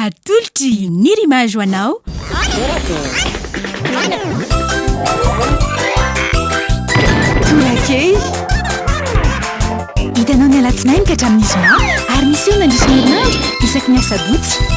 Atolotry ny Rimage ho anao. Tolakely. Hitanao ny alatsinainy ka hatramin'ny zoma ary miseho mandritra ny herinandro isaky ny asabotsy.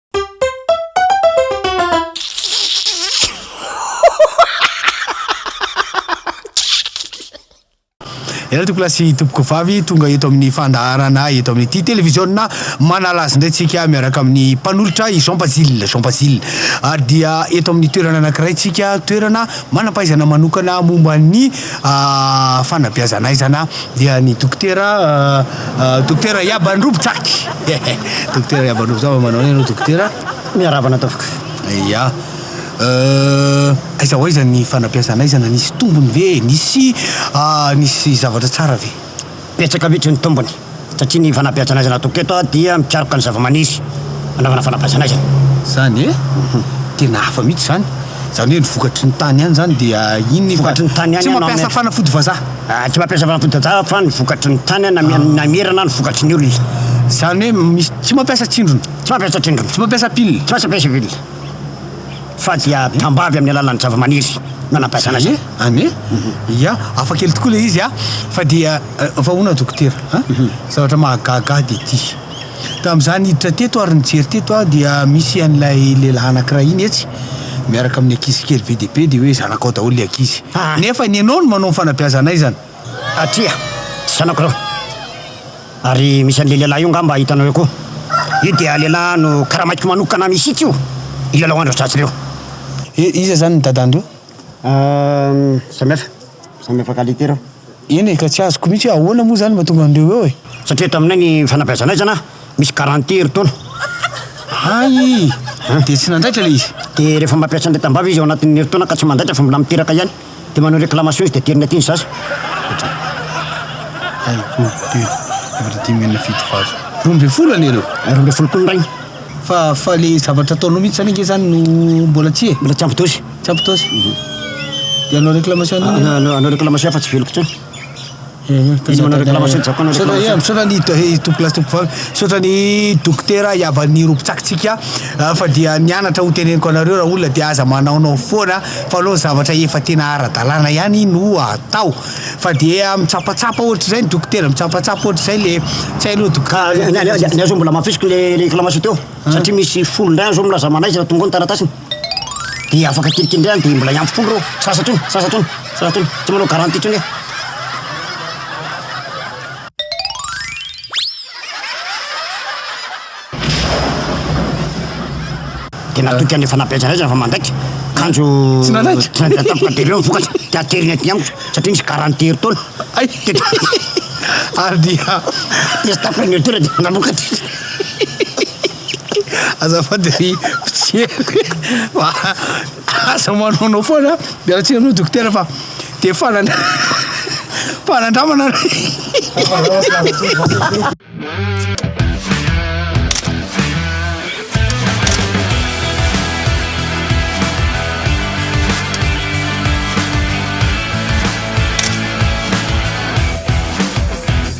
Ianareo tompoko lahy sy tompoko vavy tonga eto amin'ny fandaharana eto amin'ity televiziona manala azy indray tsika miaraka amin'ny mpanolotra i Jean Bazile Jean Bazile ary dia eto amin'ny toerana anankiray tsika toerana manam-pahaizana manokana momba ny ah, fanabeazana aizana Dia ny dokotera dokotera Yab Androby tsaky dokotera Yab Androby zava manao ianao dokotera miarahaba anao tompoko. Ya. Aiza ho aiza ny fanabeazana aiza na nisy tombony ve e? Nisy nisy zavatra tsara ve? Betsaka mihitsy ny tombony satria ny fanabeazana aizana atoko eto dia mikaroka ny zavamaniry anaovana fanabeazana aizana. Zany e? Tena hafa mihitsy zany. Zany hoe ny vokatry ny tany ihany zany dia inona io fa tsy mampiasa fanafody vazaha? Tsy mampiasa fanafody tantara fa ny vokatry ny tany na mihira na ny vokatry ny olona. Izany hoe misy tsy mampiasa tsindrona. Tsy mampiasa tsindrona. Tsy mampiasa pile. Tsy mampiasa pile. Fa dia tambavy amin'ny alalan'ny zavamaniry no nampiasana azy. An e! Ia, hafa kely tokoa ilay izy a! Fa dia, fa hono aho dokotera a! Zavatra mahagaga ahy dia ity. Tamin'izaho niditra teto ary nijery teto aho dia misy an'ilay lehilahy anankiray iny etsy miaraka amin'ny ankizy kely be dia be dia hoe zanakao daholo ilay ankizy. Ah. Nefa ny ianao no manao ny fanabeazana aizana. Atria, tsy zanako ireo. Ary misy an'ilay lehilahy io angamba hitanao eo koa. Io dia lehilahy no karamaiko manokana mihitsy io hilalao andro atratr'ireo. I, iza izany ny dadan'ireo? Ah, samihafa. Samy afaka alika ireo. Eny e, ka tsy azoko mihitsy hoe ahoana moa izany mahatonga an'ireo eo e. Satria taminay ny fanabeazanay izany an, misy garantie herintaona. Hay! Dia tsy nandaitra ilay izy? Dia rehefa mampiasa an'ilay tambavy izy ao anatin'ny herintaona ka tsy mandaitra fa mbola miteraka ihany, dia manao réclamation izy dia ateriny aty ny zaza. Hoatran'ny. Hay, roa, telo, efatra, dimy, enina, fito, valo. Roa ambin'ny folo anie ireo. Roa ambin'ny folo koa ny rainy. Fa fa ilay zavatra ataonao mihitsy izany ange izany no mbola tsy e. Mbola tsy ampy dozy. Tsapitosy, dia hanao réclamation an'inona? Hanao hanao réclamation fa tsy veloko intsony. Izy manao réclamation tsy zakako hanao réclamation. Misaotra ny eh, Tompo lahy Tompo vavy, misaotra ny dokotera iaban'ny rompitsakitsika ah, fa dia nianatra ho teneniko anareo raha olona dia aza manaonao foana fa aleo ny zavatra efa tena ara-dalàna ihany no atao. Fa dia mitsapatsapa ohatr'izay ny dokotera, mitsapatsapa ohatr'izay le tsy hainao dokotera. Ka ny ny ny ahy zao mbola mafisiko le le réclamation teo. Satria misy folo indray azo milaza manaiza raha tonga ao ny taratasiny. Dia afaka kely kely indray any dia mbola hiampy folo ireo. Tsy lasa intsony, tsy lasa intsony, tsy lasa intsony. Tsy manao garantie intsony aho. Dia natoky any fanabeazana fa mandaitra. Kanjo tsy nanaiky, tsy nanaiky tampoka dia ireo ny vokatra. Dia ateriny aty amiko satria nisy garantie herintaona. Hay! Ary dia. Dia tsy tapaka ny herintaona dia nanokatra. Azafady ry mpijery fa aza manaonao foana dia raha tsy anao dokotera fa dia fanandra- fanandramana